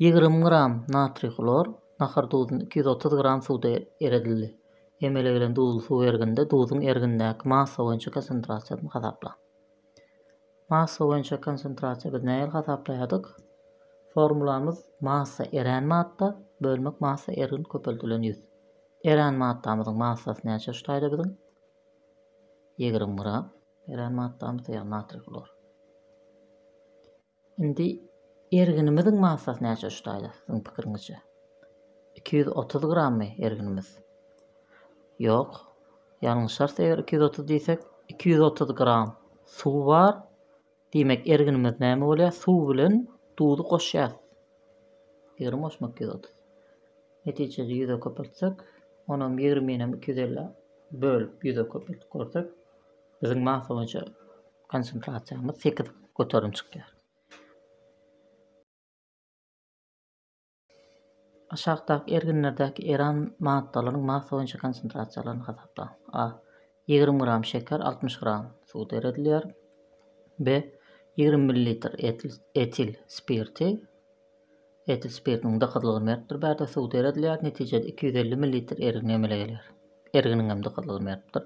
Ýigrimi gram natriý hlor, nahar duzuny iki ýüz otuz gram suwda eredildi. Emele gelen duzly suw erginde duzuň ergindäki massa boýunça konsentrasiýasyny hasaplaň. Massa boýunça konsentrasiýa biz nähili hasaplaýardyk? Formulamyz massa erän madda bölmek massa ergin köpeldilen ýüz. Erän maddamyzyň massasy näçe şu taýda biziň? Ýigrimi gram. Erän maddamyz ýagny natriý hlor. Indi erginimiziň massasy näçe şutaýda siziň pikiriňizçe? Iki ýüz otuz grammy erginimiz? Ýok. Ýalňyşarys eger iki ýüz otuz diýsek. Iki ýüz otuz gram suw bar. Diýmek erginimiz näme bolýar? Suw bilen duzy goşýarys. Ýigrimi goşmak iki ýüz otuz. Netijede ýüze köpeltsek, onam ýigriminem iki ýüz elli bölüp ýüze köpeltip görsek, biziň massa boýunça Konsentrasiýamyz sekiz göterim çykýar. Aşakdaky erginlerdäki eran maddalaryň massa boýunça konsentrasiýalaryny hasaplaň. A. Ýigrimi gram şeker altmyş gram suwda eredilýär. B. Ýigrimi millilitr etil spirti etil spirtiniň dykyzlygy mertdir bärde suwda eredilýär. Netijede iki ýüz elli millilitr ergin emele gelýär. Erginiň hem dykyzlygy mertdir.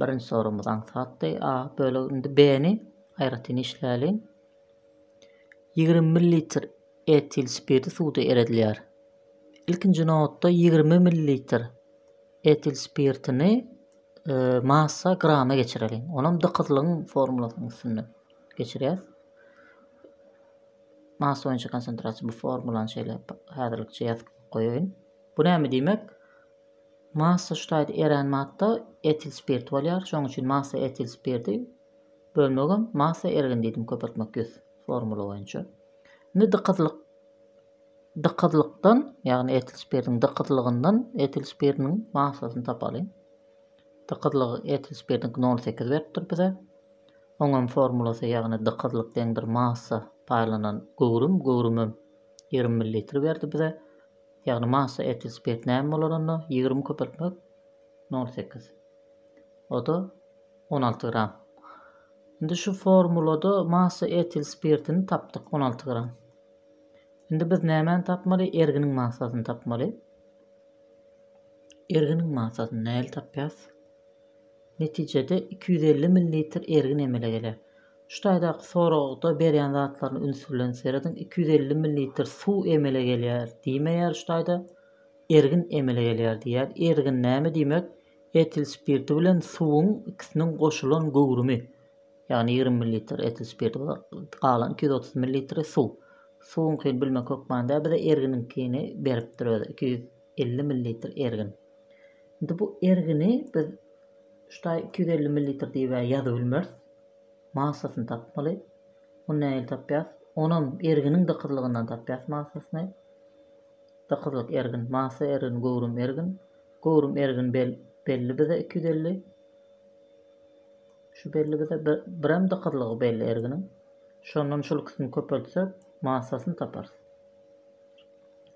Birinji soragymyz aňsatdy. A bölegi indi B-ni aýratyn işläliň. Ýigrimi millilitr etil spirti suwda eredilýär. Ilkinji nobatda ýigrimi millilitr etil spirtini e, massa grama geçireliň. Onam dykyzlygyň formulasynyň üstünde geçirýäs. Massa boýunça konsentrasiýa bu formulany şeýle häzirlikçe ýazyp goýaýyn. Bu näme diýmek? Massaştaýd erän madda etil spirt bolýar, şonuň üçin massa etil spirdi bölmegem massa ergin diýdim köpeltmek ýüz formula boýunça. Indi dykyzlyk dykyzlykdan, ýagny etil spirdiň dykyzlygyndan etil spirdiniň massasyny tapalyň. Dykyzlygy etil spirdiniň 0,8 beripdir bize. Oňam formulasy ýagny dykyzlyk deňdir massa paýlanan göwrüm, göwrümem 20 ml berdi bize. Ýagny massa etil spirt näme bolar onda ýigrimi köpeltmek nol sekiz oda on alty gram indi şu formulada massa etil spirtini tapdyk on alty gram indi biz nämäni tapmaly erginiň massasyny tapmaly erginiň massasyny näli tapýas netijede iki ýüz elli millilitr ergin emele geler Şu taýdaky soragda berýän zatlaryna üns bilen serediň, iki ýüz elli millilitr suw emele gelýär diýmeýär şu taýda, ergin emele gelýär diýýär. Ergin näme diýmek? Etil spirti bilen suwuň ikisiniň goşulan göwrümi. Ýagny ýigrimi millilitr etil spirti bolar, galan iki ýüz otuz millilitri suw. Suwuňkyny bilmek hökmanda bize erginiňkini beripdir özi, iki ýüz. elli millilitr ergin. Indi bu ergini biz şu taý iki ýüz elli millilitr diýib ýazybilmeris. Massasyny tapmaly. Ony nähili tapýas? Onam erginiň dykyzlygyndan tapýas massasyny. Dykyzlyk ergin, massa ergin, göwrüm ergin. Göwrüm ergin belli bize iki ýüz elli. Şu belli bize birem dykyzlygy belli erginiň. Şondan şul ikisini köpeltsek massasyny taparys.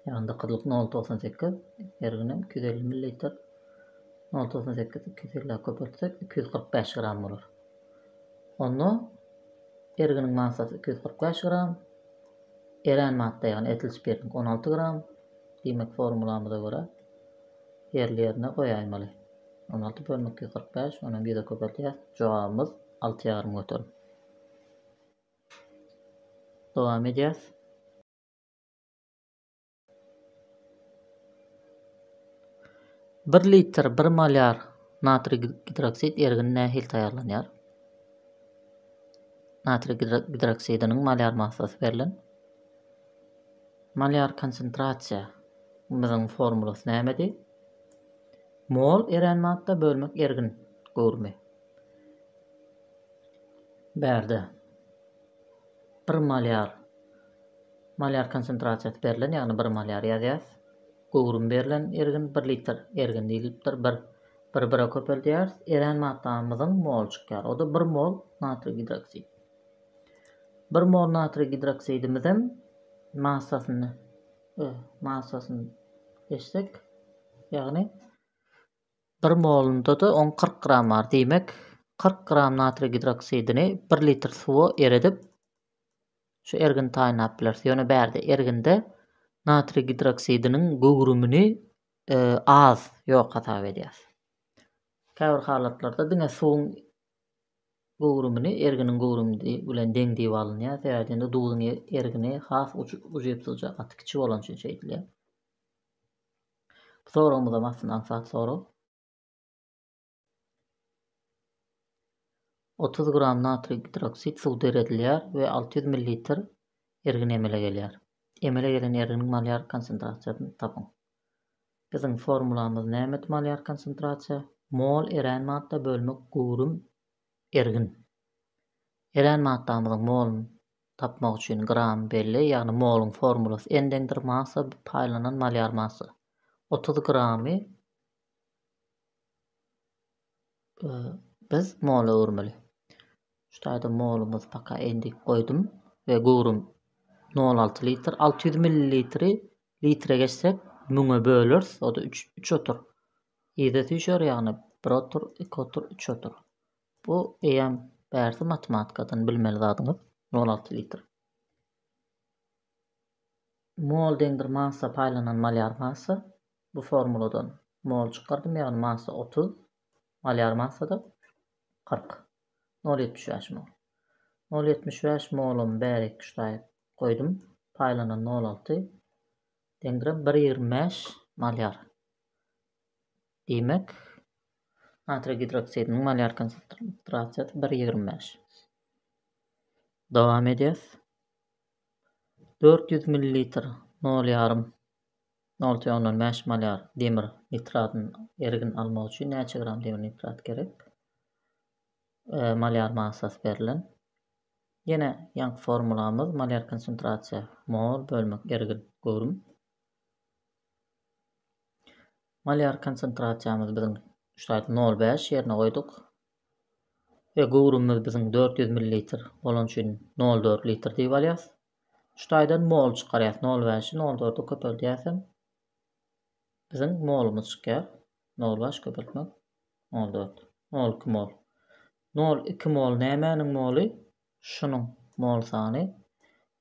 Eýranda gyzlyk nol togsan sekiz, her günem iki ýüz elli millilitr. Nol togsan sekizi iki ýüz elli köpeltsek, iki ýüz kyrk bäş gram bolar. Onda erginiň massasy iki ýüz kyrk bäş gram, erän madda, ýagny etil spirtniňki on alty gram. Diýmek, formulamyza görä, ýerli-ýerine goýaýmaly. On alty bölünik iki ýüz kyrk bäş, onuň ýüze köpeltýäs. Jogabymyz alty ýarym göterim. Dowam edýäs. Bir litr bir molýar natriý gidroksid ergini nähili taýýarlanýar? Natriý gidroksidiniň molýar massasy berlen. Molýar konsentrasiýa biziň formulasy nämedi? Mol erän madda bölmek ergin göwrümi. Bärde bir molýar Malýar konsentrasiýasy berlen, ýagny bir malýar ýazýas. Göwrümi berlen ergin bir litr ergin diýlipdir. Bir bir bire köpeldýäris. Erän maddamyzyň mol çykýar. O-da bir mol natriý gidroksid. Bir mol natriý gidroksidimizem massasyny e, massasyny eşsek, ýagny bir molunda da on 40 gram bar. Diýmek, 40 gram natriý gidroksidini 1 litr suwa eredip, Şu ergini taýynlap bileris. Ýöne bärde erginde natriý gidroksidiniň göwrümini az, ýok hasap edýäs. Käbir halatlarda diňe suwuň göwrümini erginiň göwrümi bilen deň diýip alynýar. Sebäbi indi duzuň ergini has ujypsyzja, gaty kiçi bolany üçin şeýdilýär. Bu soragymyzam aslynda aňsat sorag. Otuz gram natriý gidroksid suw döredilýär we alty ýüz millilitr ergin emele gelýär. Emele gelen erginiň malýar konsentrasiýasyny tapyň. Biziň formulamyz nämet malýar konsentrasiýa, mol erän madda bölmek göwrüm ergin. Erän maddamyzyň moluny tapmak üçin gram belli, ýagny moluň formulasy n deňdir massa paýlanan malýar massa. Otuz gramy Biz mola öwürmeli. Şu taýda molumyz paka endik goýdum we göwrüm nol alty litr. Alty ýüz millilitri litre geçsek müňe bölers. O-da üç, üç otur. Ýerde süýşer ýagny bir otur, iki otur, üç otur. Bu eýýäm bärsi matematikadan bilmeli zadyňyz. Nol alty litr. Mol deňdir massa paýlanan malyar massa. Bu formuladan mol çykardym ýagny massa otuz, malýar massa-da kyrk. Nol ýetmiş bäş mol. Nol ýetmiş bäş molumy bärek tuşlaýyp goýdum. Paýlanan nol alty deňdir bir ýigrimi bäş malýar. Diýmek, natriý gidroksidiniň malýar konsentrasiýasy bir ýigrimi bäş. Dowam edýäs. Dört ýüz millilitr nol ýarym Nol tüen ondan bäş malýar demir nitratyny ergin almak üçin näçe gram demir nitrat gerek? E, malýar massasy berlen. Ýene ýaňky formulamyz malýar konsentrasiýa mol bölmek ergin göwrüm. Malýar konsentrasiýamyz biziň şaýt 0,5 ýerine goýduk. Ve göwrümimiz biziň 400 millilitr bolan üçin 0,4 litr diýip alýas. Şu taýdan mol çykarýas. Nol bäşi nol dörde köpeldýäsem biziň molumyz çykýar. Nol bäş köpeltmek nol dört. Nol iki mol. Nol iki mol nämäniň moly? Şunuň mol sany.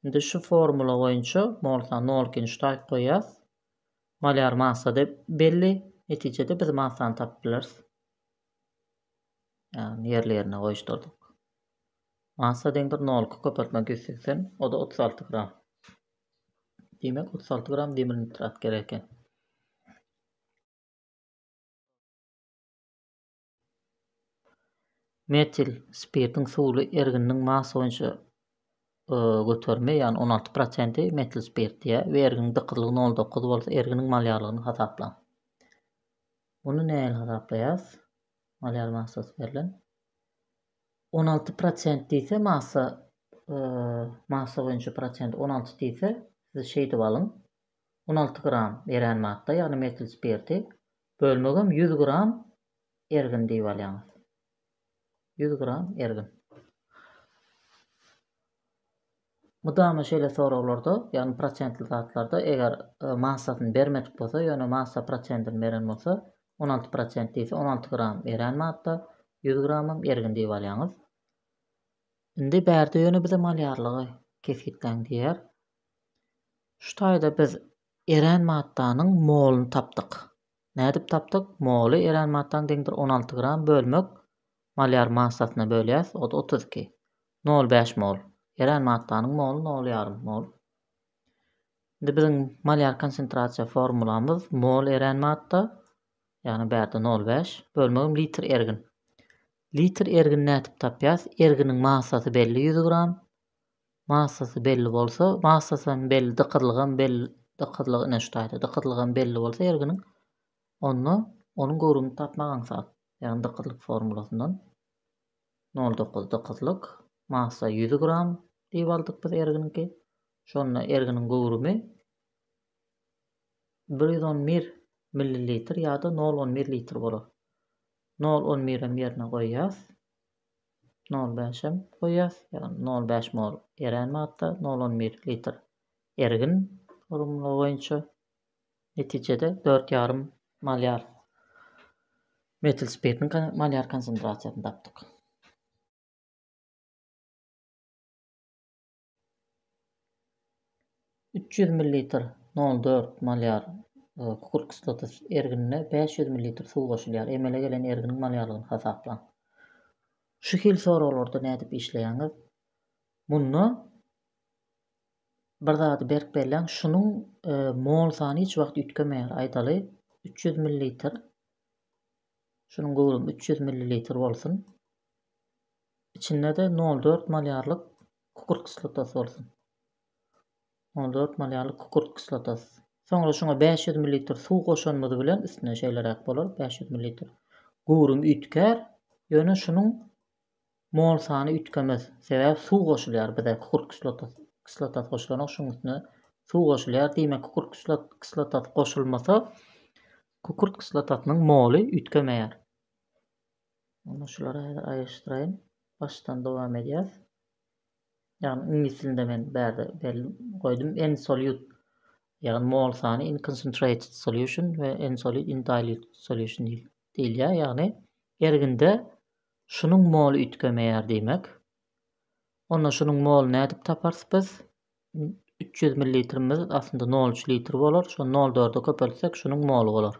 Indi şu formula boýunça mol sany nol ikini şu taýy goýýas. Malýar massada belli. Netijede biz massany tapyp bileris. Ýagny ýerli ýerine goýuşdyrdyk. Massa deň bir nolky köpeltmek ýüz segsen, o-da otuz alty gram. Diýmek, otuz alty gram demir nitrat gerek eken. Metil spirtiň suwly ergininiň massa boýunça göterimi, ýagny on alty prosenti metil spirt diýýär we erginiň dykyzlygy nol dokuz bolsa erginiň malýarlygyny hasaplaň. Muny nähili hasaplaýarys? Malýar massasy berlen. On alty prosent diýse massa massa boýunça prosent on alty diýse siz şeýdip alyň on alty gram erän madda ýagny metil spirti bölmegem ýüz gram ergin diýip alýaňyz ýüz gram ergin Mydama şeýle soraglarda, ýagny prosentli zatlarda eger massasyny bermedik bolsa, ýöne massa prosentini beren bolsa, on alty prosent diýse, on alty gram erän madda, ýüz gramam ergin diýip alýaňyz. Indi bärde ýöne bize malýarlygy kesgitläň diýýär. Şu taýda biz erän maddanyň moluny tapdyk. Nädip tapdyk? Moly erän maddaň deňdir on alty gram bölmek malýar massasyna bölýäs o-da otuz iki. Nol bäş mol. Erän maddanyň moly nol ýarym mol. Indi biziň malýar konsentrasiýa formulamyz mol erän madda, ýagny bärde nol bäş, bölmegim litr ergin. Litr ergini nädip tapýas? Erginiň massasy belli ýüz gram, Massasy belli bolsa, massasy hem belli, dykyzlygy hem belli, dykyzlygy ine şu taýda, dykyzlygy hem belli bolsa erginiň, onda onuň göwrümini tapmak aňsat. Ýagny dykyzlyk formulasyndan nol dokuz dykyzlyk, massa ýüz gram diýip aldyk biz erginiňki. Şonda erginiň göwrümi bir ýüz on bir millilitr ýa-da nol on bir litr bolar. Nol on birem ýerine goýýas. Nol bäş hem goýýas, ýagny nol bäş mol erän wagtda nol on bir litr ergin formula boýunça netijede dört ýarym malýar metil spirtiň malýar konsentrasiýasyny tapdyk. Üç ýüz millilitr, nol dört, malýar kükürt kislotysy erginine bäş ýüz millilitr suw goşulýar. Emele gelen erginiň malýarlygyny hasaplaň. Şu hil soraglarda nädip işleýäňiz? Munda bir zady berk belläň, şunuň mol sany hiç wagt üýtgemeýär. Aýdaly, üç ýüz millilitr. Şunuň göwrümi üç ýüz millilitr bolsun. Içinde-de nol dört malýarlyk kükürt kislotasy bolsun. Nol dört malýarlyk kükürt kislotasy. Soňra şuňa bäş ýüz millilitr suw goşanymyz bilen üstüne şeýleräk bolar, bäş ýüz millilitr. Göwrüm üýtgär, ýöne şunuň mol sany üýtgemez. Sebäbi suw goşulýar bize, kükürt kislotasy kislotasy goşulanok, şunuň üstüne suw goşulýar. Diýmek, kükürt kislot kislotasy goşulmasa, kükürt kislotasynyň moly üýtgemeýär. Onda şulary häzir aýryşdyraýyn. Başdan dowam edýäs. Ýagny iňlis dilinde men bärde berlip goýdum. En solute ýagny mol sany in concentrated solution we en solute in dilute solution diýilýär. Ýagny erginde şunuň moly üýtgemeýär diýmek. Onda şunuň moly nädip taparys biz? 300 millilitrimiz aslynda 0,3 litr bolar. Şony 0,4-e köpeltsek şunuň moly bolar.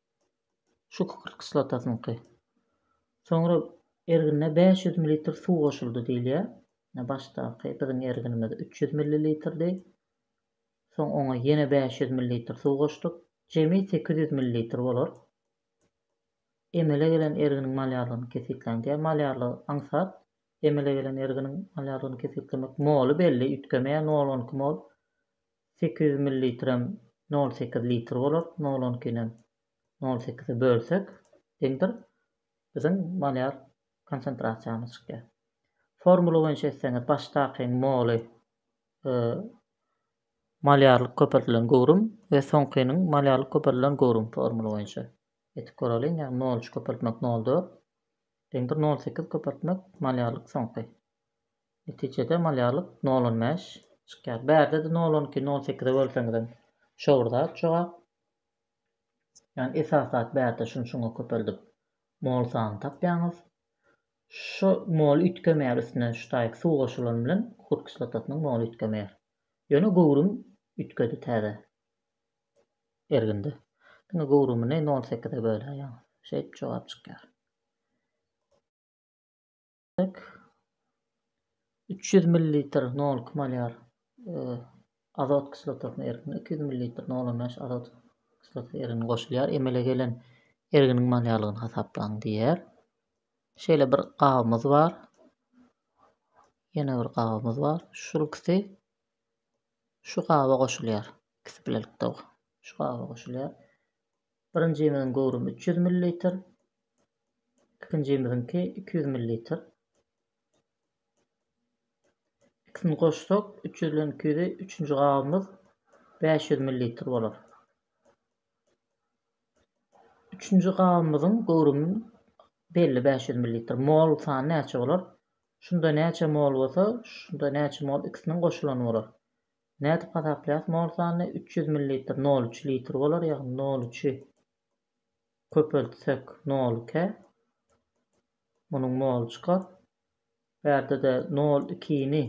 Şükür kislotasynyňky. Soňra ergine bäş ýüz millilitr suw goşuldy diýilýär. Ine başdaky biziň erginimiz üç ýüz millilitrdi. Soň oňa ýene bäş ýüz millilitr suw goşduk. Jemi sekiz ýüz millilitr bolar. Emele gelen erginiň malýarlygyny kesgitläň diýýär. Malýarlygy aňsat. Emele gelen erginiň malýarlygyny kesgitlemek. Moly belli, üýtgemeýär, nol on iki mol. Sekiz ýüz millilitrem nol sekiz litr bolar, nol on ikinem nol sekize bölsek deňdir, biziň molýar konsentrasiýamyz çykýar. Formula boýunça etseňiz, başdaky moly, molýarlyk köpeldilen göwrüm we soňkynyň molýarlyk köpeldilen göwrüm formula boýunça etip göreliň, ýagny nol üç köpeltmek nol dört deňdir, nol sekiz köpeltmek molýarlyk soňky. Netijede malýarlyk nol on bäş çykýar. Bärde-de nol on iki, nol sekize bölseňizem şo bir zat jogap. Ýagny esas zat bärde şuny şuňa köpeldip mol sanyny tapýaňyz. Şu mol üýtgemeýär üstüne ştaýk suw goşulany bilen kukurt kislotasynyň moly üýtgemeýär. Ýöne göwrüm üýtgedi täze erginde. Diňe göwrümini nol sekize böläýýäňiz. Şeýdip jogap çykýar. Demek, üç ýüz millilitr nolki malýar azot kislotasynyň ergine iki ýüz millilitr nol on bäş azot kislotasy ergini goşulýar. Emele gelen erginiň malýarlygyny hasaplaň diýýär. Şeýle bir gabymyz bar. Ýene bir gabymyz bar. Şul ikisi şu gaba goşulýar. İkisi bilelikde şu gaba goşulýar. Birinjimiziň göwrümi 300 millilitr. Ikinjimiziňki iki ýüz millilitr. Ikisini goşsak, üç ýüz bilen iki ýüzi, üçünji gabymyz bäş ýüz millilitr bolar. Üçünji gabymyzyň göwrümi belli bäş ýüz millilitr. Mol sany näçe bolar? Şunda näçe mol bolsa, şunda näçe mol ikisiniň goşulany bolar. Nädip hasaplaýas mol sanyny? Üç ýüz millilitr nol üç litr bolar, ýagny nol üçi köpeltsek nol ikä munuň moly çykar. Bu ýerde-de nol ikini,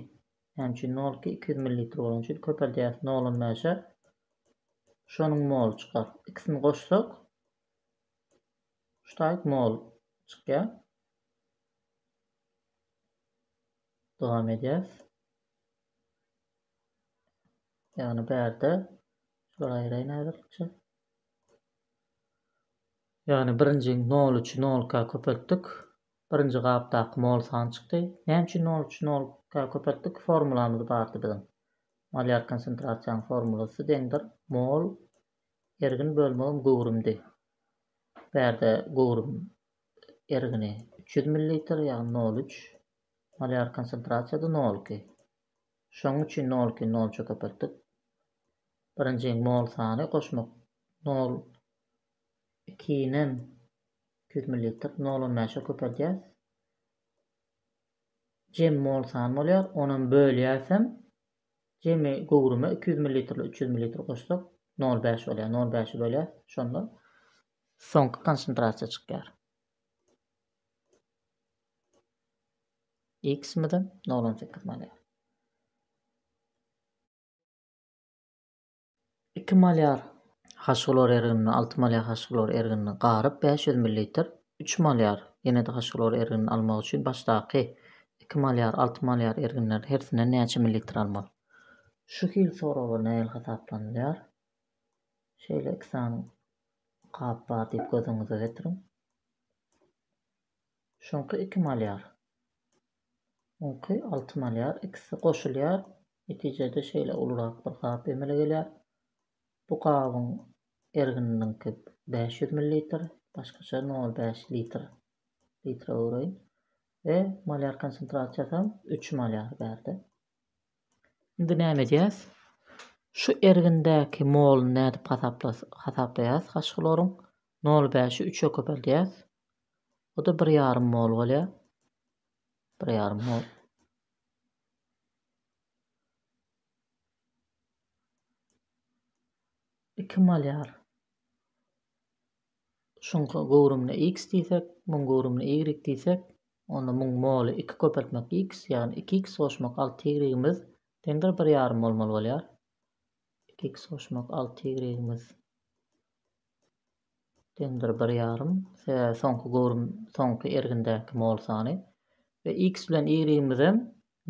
näme üçin nol iki, iki ýüz millilitr bolany üçin köpeldýäris nol on bäşe. Şonuň moly çykar. Ikisini goşsak şu taýt mol çykýar. Dowam edýäris. Ýagny bärde şular aýraýyn aýratykça. Ýagny birinji nol üçi nolka köpeltdik. Birinji gapdaky mol sany çykdy. Näme üçin nol üçi nolka köpeltdik? Formulamyz bardy biziň. Malýar konsentrasiýanyň formulasy deňdir mol ergin bölmegim göwrümdi. Bärde göwrüm ergini üç ýüz millilitr, ýagny nol üç. Malýar konsentrasiýada nol iki. Şonuň üçin nolki nolça köpeltip, birinji mol sany goşmak nol ikinem iki ýüz millilitr nol on bäşe köpeldýäris. Jem mol sany bolýar, onam bölýärsem jemi göwrüme iki ýüz millilitrle üç ýüz millilitr goşsak nol bäş bolýar, nol bäşi bölýäris, şonda soňky konsentrasiýa çykýar. X mydam? Nol on sekiz malýar. Iki malýar haşglor erginini, alty malýar haşglor erginini garyp bäş ýüz millilitr, üç malýar ýene-de haşglor erginini almak üçin başdaky iki malýar, alty malýar erginleriň hersinden näçe millilitr almaly? Şu hil soraglar nähili hasaplanylýar? Şeýle iki sany gap bar diýip göz öňüňize getiriň. Şuňky iki malýar. Muňky alty malýar. Ikisi goşulýar. Netijede şeýle ulurak bir gap emele gelýär. Bu gabyň ergininiňki bäş ýüz millilitr, başgaça nol bäş litr. Litre öwreýin. We malýar konsentrasiýasam üç malýar berdi. Indi näme edýäs? Şu ergindäki molyny nädip hasaplaýas? Haşy hloryň nol bäşi üçe köpeldýäs. Bu da bir ýarym mol bolýar. Bir ýarym mol. Iki malyar. Şunka göwrümine x diýsek, muň göwrümine y diýsek, onda muň moly 2 köpeltmek x, ýagny 2x goşmak 6y-imiz deňdir bir ýarym mol mol bolýar. 2x goşmak 6y-imiz. Dendir bir ýarym, sebäbi soňky göwrüm soňky ergindäki mol sany we x bilen y-imizem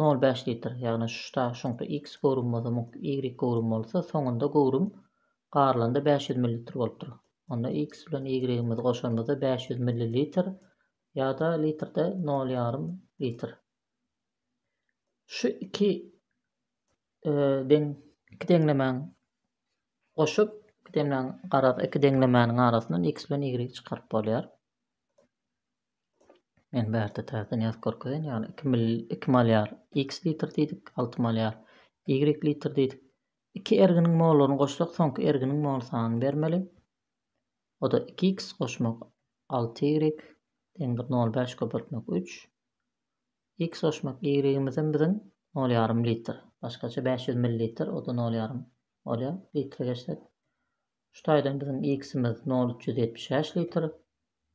nol bäş litr, ýagny şda şuňky x göwrüm bolsa muňky y göwrüm bolsa soňunda göwrüm garylanda bäş ýüz millilitr bolupdyr. Onda x bilen y-imizi goşanymyzda bäş ýüz millilitr ýa-da litrde nol ýarym litr. Şu iki Deň iki deňlemäni goşup, iki deňlemäni garaz iki deňlemäniň arasyndan x bilen y çykaryp bolýar. Men bärde täzeden ýazyp görkezen, ýagny 2 mil 2 malýar x litr diýdik, 6 malýar y litr diýdik. Iki erginiň mollaryny goşsak, soňky erginiň mol sanyny bermeli. O da 2x goşmak 6y deňdir 0,5 köpeltmek 3. X goşmak Y-imizem biziň nol ýarym litr. Başgaça bäş ýüz millilitr, o-da nol ýarym bolýar. Litre geçsek, şu taýdan biziň X-imiz nol üç ýüz ýetmiş bäş litr,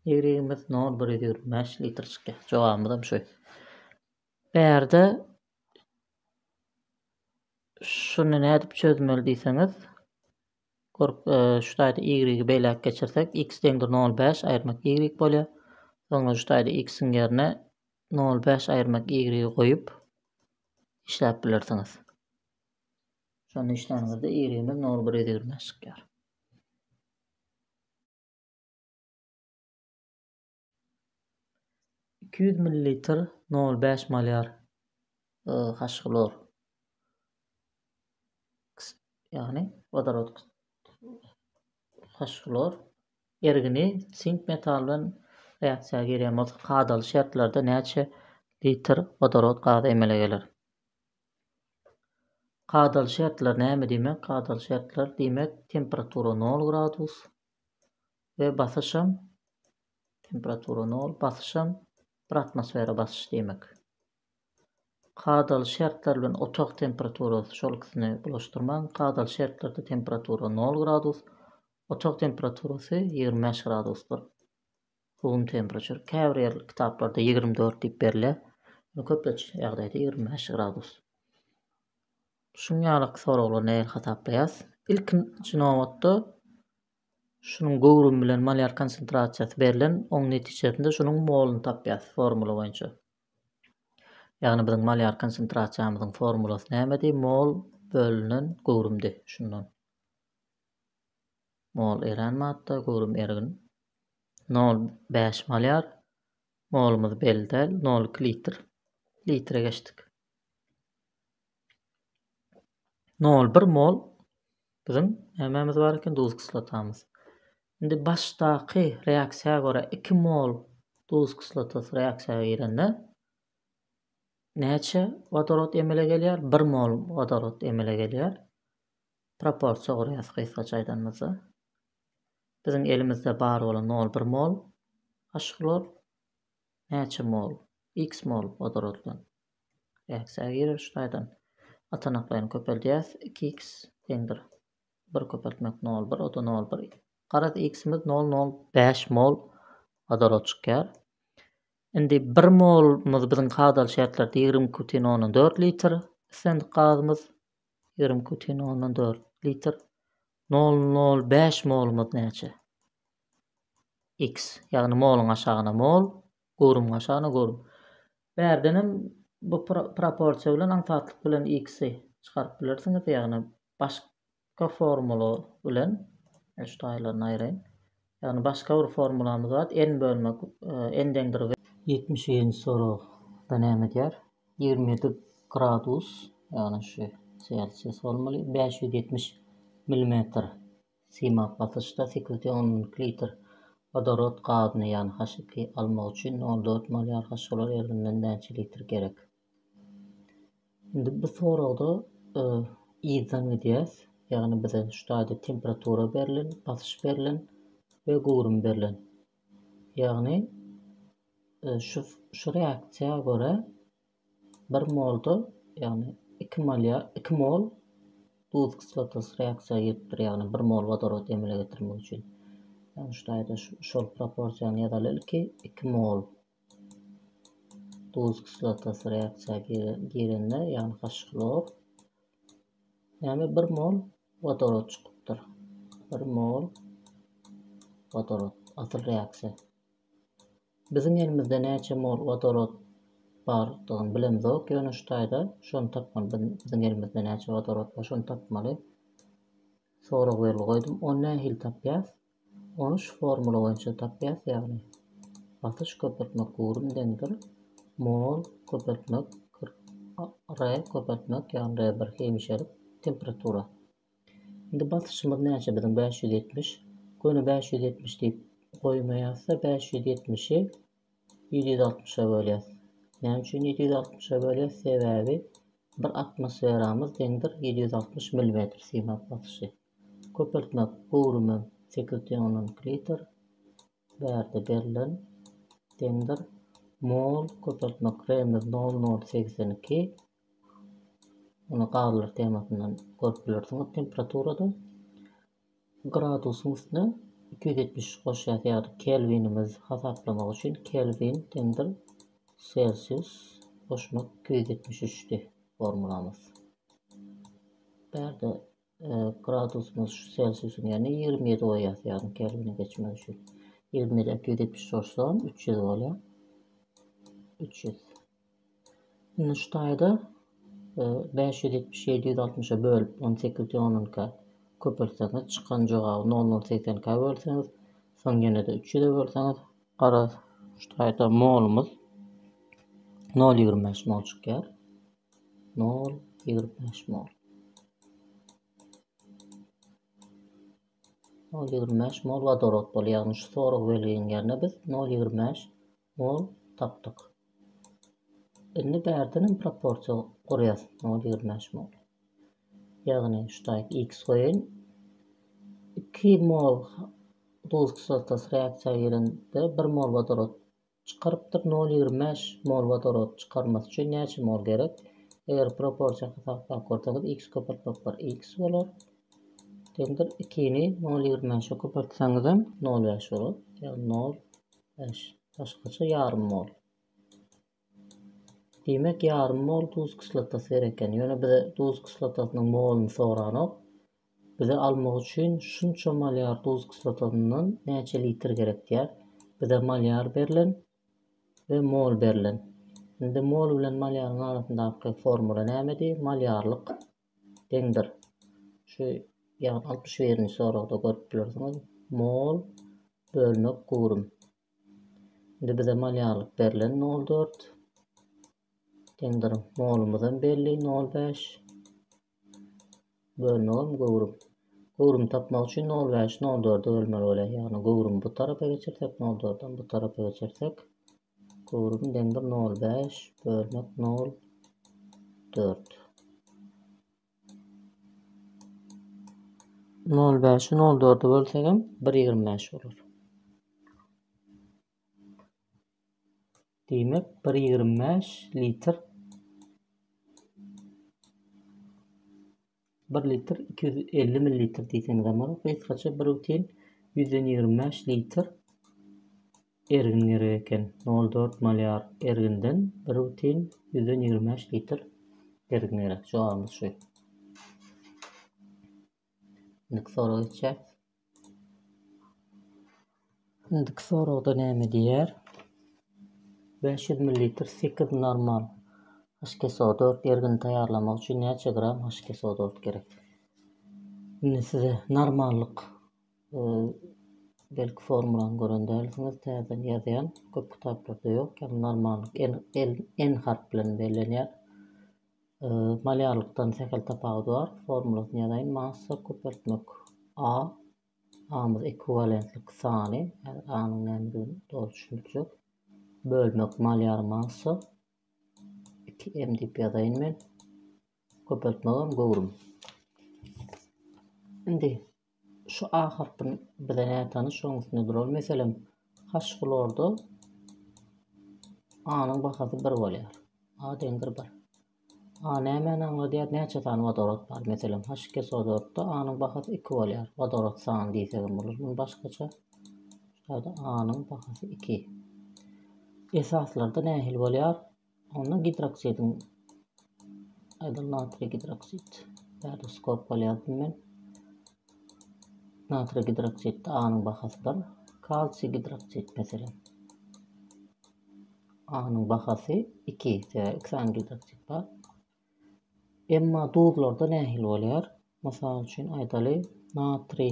Y-imiz nol bir ýüz ýigrimi bäş litr çykýar. Jogabymyzam şu. Bärde şuny nädip çözmeli diýseňiz, Görk, şu taýda y-y beýläk geçirsek, x deňdir nol bäş aýyrmak y bolýar. Soňra şu taýda x-iň ýerine nol bäş aýyrmak y-y goýup işläp bilersiňiz. Şonda işlänizde y-ymiz nol bir ýüz ýigrimi bäş çykýar. Iki ýüz millilitr, nol bäş malýar H hlor, ýagny wodorod H hlor ergini sink metaly bilen reaksiýa girýän bolsa kadaly şertlerde näçe litr wodorod gazy emele geler? Kadaly şertler näme diýmek? Kadaly şertler diýmek temperatura nol gradus, we basyşam temperatura nol basyşam bir atmosfera basyş diýmek. Kadaly şertler bilen otag temperaturasy şol ikisini bulaşdyrmaň. Kadaly şertlerde temperatura nol gradus, otag temperaturasy ýigrimi bäş gradusdyr. Room temperature, käbir ýer kitaplarda ýigrimi dört diýip berilýär. Ýöne köplenç ýagdaýda ýigrimi bäş gradus. Şuň ýaly soraglary nähili hasaplaýas? Ilkinji nobatda şunuň göwrümi bilen malýar konsentrasiýasy berlen, oň netijesinde şunuň moluny tapýas formula boýunça. Ýagny biziň malýar konsentrasiýamyzyň formulasy nämedi? Mol bölünen göwrümdi. Şundan. Mol erän matda, göwrüm ergin. Nol bäş malýar, molumyz belli däl, nol iki litr. Litre geçdik. Nol bir mol biziň nämämiz bar eken, duz kislotamyz. Indi başdaky reaksiýa görä iki mol duz kislotasy reaksiýa girende näçe wodorod emele gelýär? Bir mol wodorod emele gelýär. Proporsiýa gurýas gysgaça aýdanymyzda. Biziň elimizde bar bolan mol bir mol, a şhlor näçe mol, x mol wodorotlan. Reaksiýa girer şu taýdan. Atanaklaýyny köpeldýäs iki x deňdir bir köpeltmek nol bir oda nol bir garaz x-imiz nol nol bäş mol wodorod çykýar. Indi bir molumyz biziň kadaly şertlerde ýigrimi iki bütin ondan dört litr islendik gazymyz Ýigrimi putin ondan dört litr. Nol nol bäş molumyz näçe? X. Ýagny moluň aşagyna mol, göwrümiň aşagyna göwrüm. Bärden hem bu proporsiýa bilen aňsatlyk bilen X-i çykaryp bilersiňiz, ýagny başga formula bilen, şu taýlaryny aýraýyn. Ýagny başga bir formulamyz bar, n bölmek n deňdir w. Ýetmiş birinji soragda näme diýýär? Ýigrimi ýedi gradus, ýagny şu selsius bolmaly, bäş ýüz ýetmiş milimetr siýmap basyşda sekiz de on müň litr wodorod gazyny, ýagny H iki, almak üçin nol dört molýar haşolar ergininden näçe litr gerek? Indi bu soragda e, yzdan gidýäs. Ýagny bize şu taýda temperatura berlen, basyş berlen we göwrüm berlen. Ýagny e, şu şu reaksiýa görä 1 molda, ýagny 2 mol 2 mol duz kislotasy reaksiýa giripdir, ýagny 1 mol wodorod emele getirmek üçin. Ýagny şu taýda şol proporsiýany ýazaly ilki 2 mol Duz kislotasy reaksiýa girende, ýagny H-hlor, näme 1 mol wodorod çykypdyr. 1 mol wodorod, asyl reaksiýa. Biziň elimizde näçe mol wodorod bardygyny bilemzok, ýöne şu taýda şony tapmaly. Biziň elimizde näçe wodorod bar, şony tapmaly. Sorag belgi goýdum. Ony nähili tapýas? Ony şu formula boýunça tapýas ýagny basyş köpeltmek gurum deňdir mol köpeltmek re köpeltmek ýagny re bir hemişelik temperatura indi basyşymyz näçe biziň bäş ýüz ýetmiş göni bäş ýüz ýetmiş diýip goýmaýasda bäş ýüz ýetmişi ýedi ýüz altmyşa bölýäs näme üçin ýedi ýüz altmyşa bölýäs sebäbi bir atmosferamyz deňdir ýedi ýüz altmyş millimetr siýmap basyşy Köpeltmek göwrümi sekiz deňinden kilometr bärde berlen deňdir. Mol köpeltmek Remez nol nol segsen iki. Muny gazlar temasyndan görüp bilersiňiz. Temperaturada gradusyň üstüne iki ýüz ýetmiş üç goşýas ýagny kelwinimiz hasaplamak üçin kelwin deňdir selsius goşmak iki ýüz ýetmiş üçdi formulamyz. Bärde Gradusymyz şu selsiusyň ýerine ýigrimi ýedi goýýas, ýagny kelwine geçmez üçin. Ýigrimi ýedä iki ýüz ýetmiş goşsam, üç ýüz bolýar. Üç ýüz. Indi şu taýda e, bäş ýüz ýetmiş ýedi ýüz altmyşa bölüp, on sekiz ýüz onunka köpeltseňiz, çykan jogaby nol nol segsenkä bölseňiz, soň ýene-de üç ýüze bölseňiz, garaz, şu taýda molumyz nol ýigrimi bäş mol çykýar. Nol ýigrimi bäş mol. Nol ýigrimi bäş mol wodorod bolýar. Ýagny şu sorag belginiň ýerine biz nol ýigrimi bäş mol tapdyk. Indi bärden hem proporsiýa gurýas. Nol ýigrimi bäş mol. Ýagny şu taýp x goýun. Iki mol duz kislotasy reaksiýa girende bir mol wodorod Çykarypdyr nol ýigrimi bäş mol wodorod çykarmasy üçin näçe mol gerek eger proporsiýa hasaplap görseňiz x köpeltmek bar x bolar deňdir iki ni nol ýigrimi bäşe köpeltseňizem nol bäş bolar ýagny nol bäş başgaça ýarym mol diýmek ýarym mol duz kislotasy gerek ekeni ýöne bize duz kislotasynyň moluny soranok Bize almak üçin şunça malýar duz kislotasyndan näçe litr gerek diýýär. Bize malýar berlen we mol berlen. Indi mol bilen malýaryň arasyndaky formula nämedi? Malýarlyk deňdir. Şu ýagny altmyş birinji soragda görüp bilersiňiz. Mol bölmek gurum. Indi bize malýarlyk berlen 0,4 deňdir. Molumyz hem belli 0,5. Bölmegem göwrüm. Göwrümi tapmak üçin nol bäş nol dörde bölmeli bolýar. Ýagny göwrümi bu tarapa geçirsek nol dördem bu tarapa geçirsek göwrüm deňdir nol bäş bölmek nol dört. Nol bäşi nol dörde bölsegem bir ýigrimi bäş bolar. Diýmek, bir ýigrimi bäş litr, bir litr iki ýüz elli millilitr diýseňizem bolar. Gysgaça bir butin ýüzden ýigrimi bäş litr ergin gerek eken. Nol dört malýar erginden bir butin ýüzden ýigrimi bäş litr ergin gerek. Jogabymyz şu. Indiki sorag geçýäs. Indiki soragda näme diýýär? 500 ml sekiz normal HKSO4 ergini taýýarlamak üçin näçe gram HKSO4 gerek? Indi size normallyk e, belki formulany gören dälsiňiz, täzeden ýazýan. Köp kitaplarda ýok. Ýagny normallyk N, N harp bilen bellenýär. Malýarlykdan sähel tapawudy bar. Formulasyny ýazaýyn. Massa köpeltmek A. A-myz ekwiwalentlik sany. Häzir A-nyň nämedigini doly düşündirjek. Bölmek malýar massa. 2M diýip ýazaýyn men. Köpeltmegem göwrüm. Indi Şu A harpy bize nätanyş, şonuň üstünde duralım. Meselem, haşgulorda A-nyň bahasy 1 bolýar. A deňdir 1. A nämäni aňladýar? Näçe sany wodorod bar? Meselem, haşkesodorda A-nyň bahasy 2 bolýar. Wodorod sany diýsegem bolar. Muny başgaça şaýda A-nyň bahasy 2. Esaslarda nähili bolýar? Onda gidroksidiň aýdan natriý gidroksid bärde skop bolýardy men. Natriý gidroksidde anyň bahasy bir, kalsiý gidroksid meselem. Anyň bahasy 2, sebäbi 2 sany gidroksid bar. Emma duzlarda nähili bolýar? Mysal üçin aýdaly natriý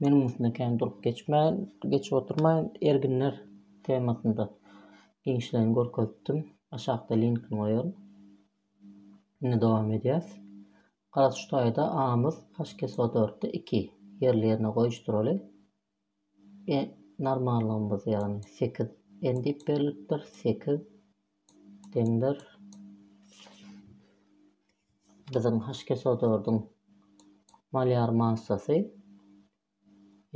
Meniň üstümden kän durup geçmän, geçip oturmaýyn, erginler temasynda giňişleýin görkezipdim. Aşakda linkini goýaryn. Indi dowam edýäs. Garaz şu taýda amyz HKSO4-de 2 ýerli-ýerine goýuşdyraly. E, normallygymyz ýagny 8 N diýip berlipdir, 8 Demler biziň haşkesodordyň malýar massasy,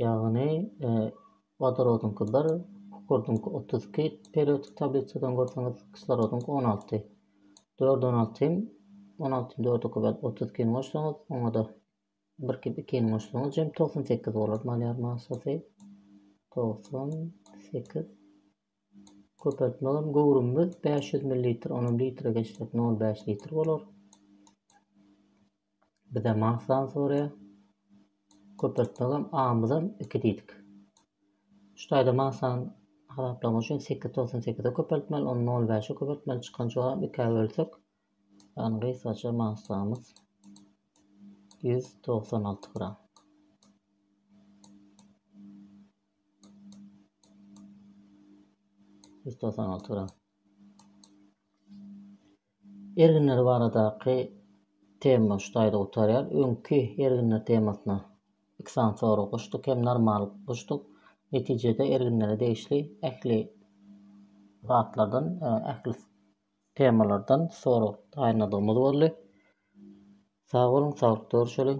ýagny wodorodyňky bir, kükürdiňki otuz iki, periodik tablisadan görseňiz, kislorodyňky on alty. Dört on alty hem on altyny dörde köbelip otuz ikini goşsaňyz, oňa-da bir kep ikini goşsaňyz jem togsan sekiz bolar malýar massasy. Togsan sekiz Köpeltmegem göwrümimiz bäş ýüz millilitr, onam litre geçsek nol bäş litr bolar. Bize maslany soraýar. Köpeltmegem amyzam iki diýdik. Şu taýda maslany hasaplamak üçin sekiz togsan sekize köpeltmeli, ony nol bäşe köpeltmeli, çykan jogap ikä bölsek, ýagny gysgaça maslamyz ýüz togsan alty gram. Ýüz togsan alty gram. Erginler baradaky tema şu taýda gutarýar. Öňki erginler temasyna iki sany sorag goşduk hem normal goşduk. Netijede erginlere degişli ähli zatlardan, e, ähli temalardan sorag taýynladygymyz boldy. Sag boluň, saglyk görüşeliň.